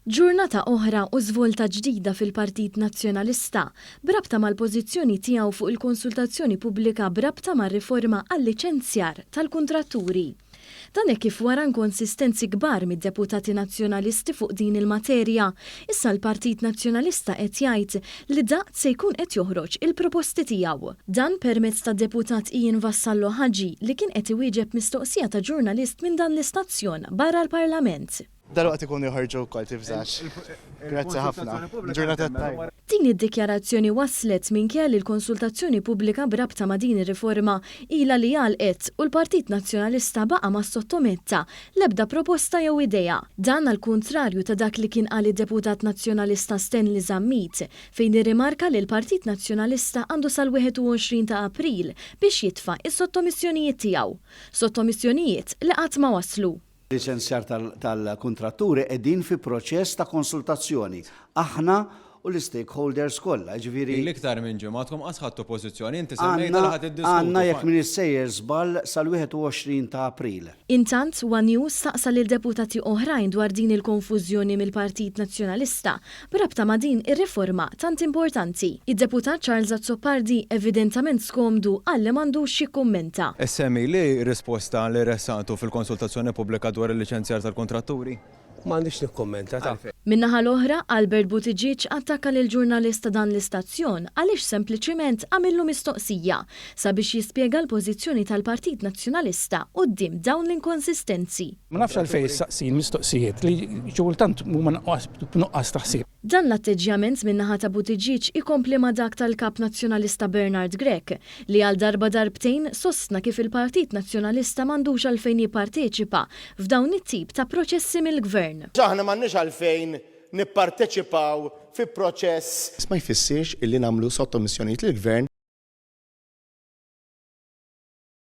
Ġurnata oħra u żvolta ġdida fil-Partit Nazzjonalista b'rabta mal-pożizzjoni tiegħu fuq il-konsultazzjoni pubblika b'rabta mar-riforma għal-liċenzjar tal-kuntratturi. Dan hekk kif wara nkonsistenzi kbar mid-deputati Nazzjonalisti fuq din il-materja, Issa l-Partit Nazzjonalista qed jgħid li daqt se jkun qed joħroġ il-proposti tiegħu. Dan permezz tad-Deputat Ian Vassallo Hagi li kien qed iwieġeb mistoqsija ta' ġurnalist minn dan l-istazzjon barra l-Parlament. Dalwaqt ikunu joħorġu wkoll tifżax. Grazzi ħafna. Ġurnata tajba. Din id-dikjarazzjoni waslet minkejja li l-konsultazzjoni pubblika b'rabta ma' din ir-riforma ilha li għalqet u l-Partit Nazzjonalista baqa' ma ssottometta L-ebda proposta jew idea. Dan għall-kuntrarju ta' dak li kien qal id-Deputat Nazzjonalista Stanley Zammit fejn irrimarka li l-Partit Nazzjonalista għandu sal-21 ta' April biex jitfa' s-sottomissjonijiet tiegħu. Sottomissjonijiet li qatt ma waslu. Liċenzjar tal-kuntratturi qegħdin fi proċess ta' konsultazzjoni. Aħna u l-istakeholders kollha, jiġifieri. Ilek iktar minn ġimgħa, intkom qatt ħadtu pożizzjoni, inti semmejtha li ħa tiddiskutu. Għandna jekk m'iniex sejjer żball sal-21 ta' April. Intant, one News staqsa lil deputati oħrajn dwar din il-konfużjoni mill-Partit Nazzjonalista b'rabta ma' din ir-riforma tant importanti. Id-Deputat Charles Azzopardi evidentament skomdu qal li m'għandux jikkummenta. SME li risposta li ressaqtu fil-konsultazzjoni pubblika dwar il-liċenzjar tal-kuntratturi? u ma għandix nikkummenta għalfejn. Min-naħa l-oħra, Albert Buttigieg attakka lill-ġurnalist ta' dan l-istazzjon għaliex sempliċement għamillu mistoqsija sabiex jispjega l-pożizzjoni tal-Partit Nazzjonalista quddiem dawn l-inkonsistenzi. Ma nafx għalfejn issaqsini mistoqsijiet li xi kultant huma b'nuqqas ta' ħsieb. Dan l-atteġġjament minn naħa ta' Buttigieg ikompli ma' dak tal-Kap Nazzjonalista Bernard Grech li għal darba darbtejn sostna kif il-Partit Nazzjonalista m'għandux għalfejn jipparteċipa f'dawn it-tip ta' proċessi mill-Gvern. Aħna m'għandniex għalfejn nipparteċipaw fi proċess. Iżda ma jfissirx illi nagħmlu sottomissjonijiet lill-Gvern.